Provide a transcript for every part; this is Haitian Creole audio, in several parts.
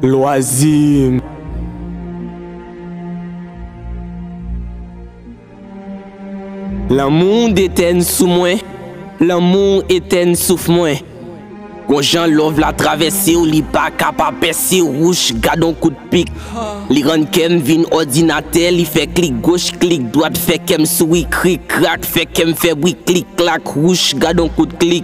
Loisir. Lanmou w detèn sou mwen Lanmou w etèn souf mwen Gon jan love la travèse w li pa ka pa pèse w Wouch gad on kout pik Li rann kè m vin òdinatè Li fè klik goch klik dwat Fè kè m souri krik krak Fè kè m fè bri klik klak Wouch gad on kout klik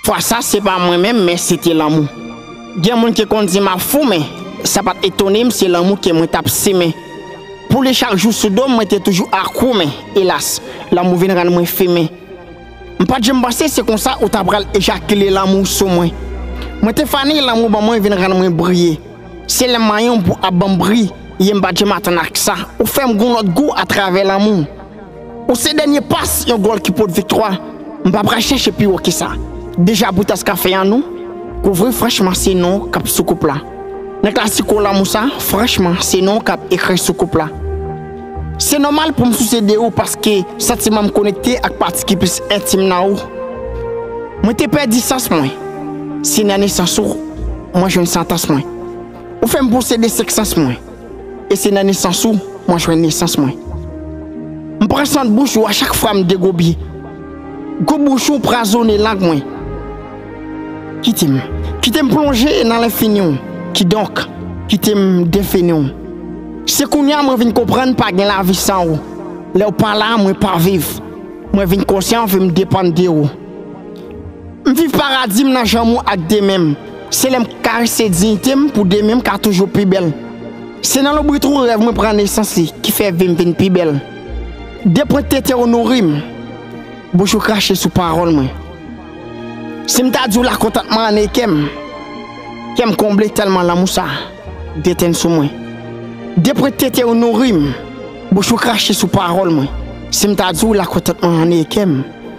Fwa sa se pa mwen menm men se te lanmou. Gen moun ki konn di m ap fou men sa pa t etone m se lanmou ke mwen t ap simen pou li chak jou sou do m mwen te toujou akwou men elas lanmou vin rann mwen fimen. M pa t janm panse se konsa ou ta pral ejakile lanmou w sou mwen. Mwen te fane lanmou w ban mwen vin rann mwen briye. Se lè m manyen w pou ap ban m briye m pa t janm atann ak sa ou fè m gon lòt gou atravè lanmou w. Ou se dènye pas yon gòl ki pot viktwa, m pa pral chèche pi wo ke sa. Deja pou tas kafe an nou kouvri franchman se nou k ap sou koup la. Nan klasiko lanmou sa franchman se nou k ap ekri sou koup la. Se nòmal pou m souse de ou paske santiman m konekte ak pati ki plis entim nan ou. Mwen te pèdi sans mwen, se nan nesans ou mwen jwenn santans mwen. Ou fè m posede senk sans mwen. E se nan nesans ou mwen jwenn nesans mwen. M pran sant bouch ou a chak fwa m degobi. Gou bouch ou prazone lang mwen. Kite m, kite m plonje nan lenfini w, kidonk, kite m defini w. Se kounye a mwen vin konprann pa gen lavi san ou. Lè w pa la, mwen pa viv. Mwen vin konsyan, vin depann de ou. M viv paradi m nan janm ou ak de men m Se lè m k karese diyite m pou demen m ka toujou pi bèl Se nan loubrit ou rèv mwen pran nesans li ki fè vi m vin pi bèl De pwent tete ou nouri m bouch ou krache sou pawòl mwen Si m ta di w la kontantman an e kè m Kè m konble tèlman lanmou sa detenn sou mwen De pwent tete ou nouri m bouch ou krache sou pawòl mwen Si m ta di w la kontantman an e kè m.